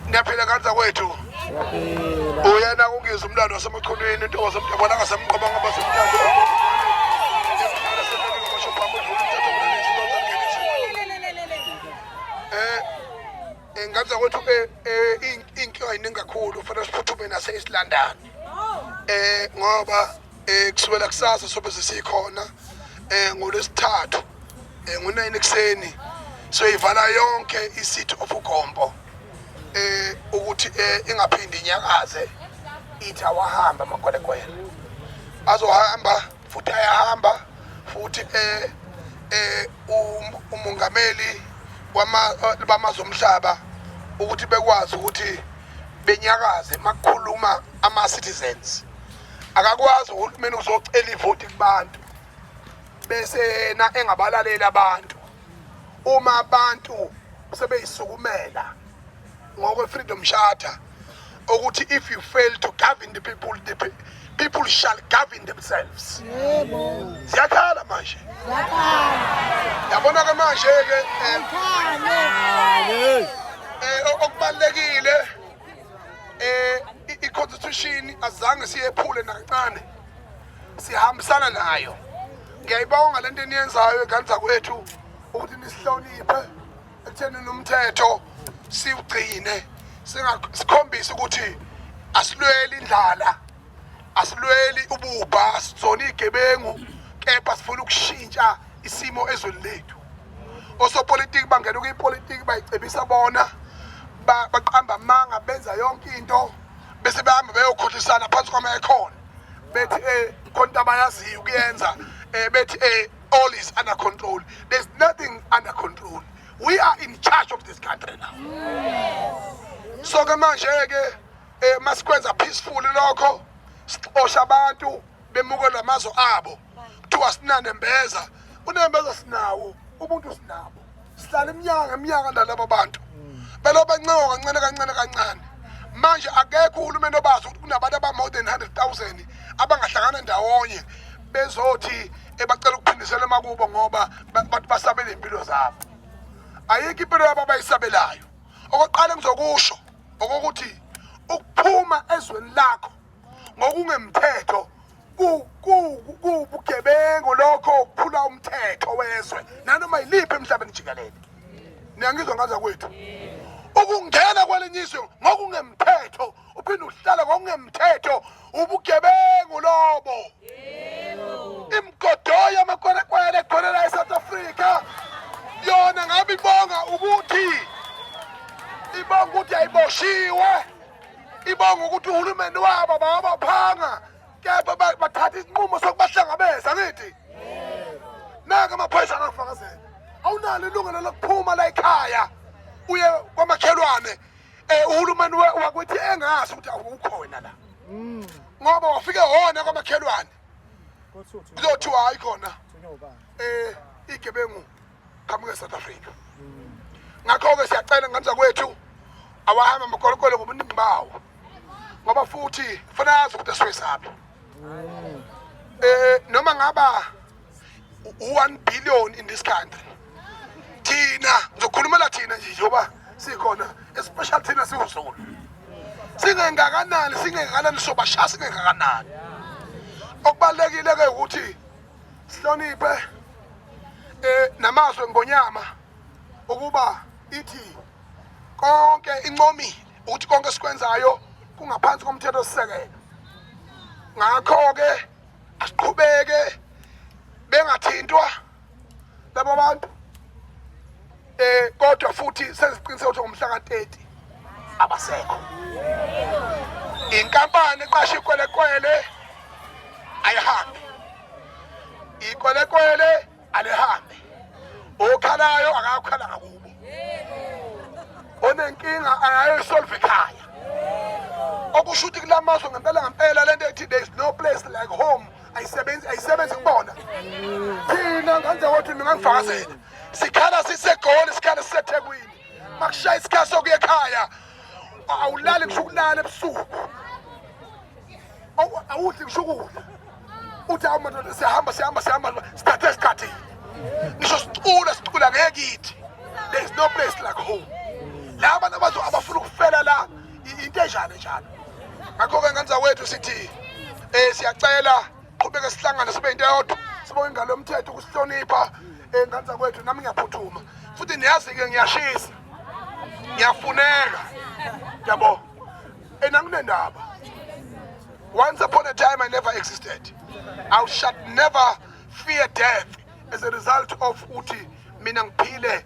Ngiyaphila kanza kwethu. Uyena ungizwe umlando wasemachunwini into wasemdabona ngasemqoba ngoba semdabona. Eh nganza kwethu ke inkinga iningi kakhulu fanele siphuthume nase isilandane. Eh ngoba Eh kusukela kusasa sobe sesikhona eh ngolesithathu eh ngo-9 ekuseni soyivala yonke i-city of Ugombo eh ukuthi eh ingaphindi inyakaze ithi awahamba amagwelekwele azohamba futhi ayahamba futhi eh eh um, umongameli bamazwe omhlaba ukuthi bekwazi ukuthi benyakaze makukhuluma ama-citizens akakwazi uhulumeni uzocela ivoti kubantu bese yena engabalaleli abantu uma abantu sebeyisukumela ngokwe freedom charter ukuthi if you fail to govern the people the people shall govern themselves ziyakhala manje yabona ke manje ke eh, eh, okubalekile eh i-constitution azange siyephule nakancane sihambisana nayo ngiyayibonga lento eniyenzayo eganza kwethu ukuthi nisihloniphe ekutheni nomthetho siwugcine sikhombise ukuthi asilweli indlala asilweli ububha sizona igebengu kepha sifuna ukushintsha isimo ezweni lethu osopolitiki bangena kuyipolitiki bayicebisa bona baqamba amanga benza yonke into bese behamba beyokhohlisana phansi kwama ekhona bethi eh khona abayaziyo ukuyenza eh bethi eh all is under control there's nothing under control we are in charge of this country now so ke manje ke eh masikwenza peaceful lokho sixosha abantu bemuke lamazo abo kuthiwa sinane mbeza unembeza sinawo ubuntu sinabo sihlala iminyaka ngeminyaka nalabo bantu belo bancewa kancane kancane kancane manje akekho uhulumeni obazi ukuthi kunabantu aba-more than 100 000 abangahlangana ndawonye bezothi ebacela ukuphindisela emakubo ngoba bathi basabele iy'mpilo zabo ayikho impilo yabo abayisabelayo okokuqala engizokusho okokuthi ukuphuma ezweni lakho ngokungemthetho kuwubugebengu lokho ukuphula umthetho wezwe nanoma yiliphi emhlabeni jikelele niyangizwa ngaza kwethu ukungena kwelinye izwe ngokungemthetho uphinde uhlala ngokungemthetho ubugebengu lobo imgodoyo amakwerekwere ekhonela e-south africa yona ngabe ibonga ukuthi ibonga ukuthi ayiboshiwe ibonga ukuthi uhulumeni wabo bawabaphanga kepha bathatha isinqumo sokubahlangabeza ngithi naka amaphoyisa angakufakazela awunalo ilungelo lokuphuma la ekhaya uye kwamakhelwane eh uhulumeni wakuthi engazi ukuthi awukhona la mm. ngoba wafike hona kwamakhelwane kuzothi hayi khona eh igebengu qhamuke South Africa mm. ngakho ke siyacela ngamza kwethu awahamba amakolokolo ngobuningi bawo ngoba futhi fanele azi ukuthi esiwesaphi mm. eh noma ngaba 1 billion in this country thina ngizokhulumela thina nje njengoba sikhona especially thina siwuzulu singengakanani singengakanani sobashaya singengakanani okubalulekile ke ukuthi sihloniphe eh namazwe ngonyama ukuba ithi konke inqomile ukuthi konke sikwenzayo kungaphansi komthetho sisekelo ngakho ke asiqhubeke bengathintwa labo abantu eh kodwa futhi senziqiniseka ukuthi ngomhla ka-30 abasekho inkampani eqasha ikwelekwele ayihambi ikwelekwele alihambe okhalayo akakhala ngakubo onenkinga ayayisolve ekhaya okusho ukuthi kula mazwe ngempela ngempela le nto ethi there is no place like home ayisebenzi ayisebenzi kubona thina ngenze ukuthi ningangifakazela sikhala sisegoli sikhala sisethekwini makushaya isikhathi sokuya ekhaya awulali kusho ukulala ebusuku awudli kusho ukudla uthi hawu madoda siyahamba siyahamba siyahamba sithathe isikhathi ngisho sicula sicula ngekithi there is no place like home la abantu abazo abafuna ukufela la into enjani njalo ngakho-ke nganza wethu sithi um siyacela qhubeke sihlangane sibe into eyodwa sibonge ingalo yomthetho ukusihlonipha ey'ngane zakwethu nami ngiyaphuthuma futhi niyazi-ke ngiyashisa ngiyafuneka yabo and anginendaba once upon a time i never existed i shall never fear death as a result of uthi mina ngiphile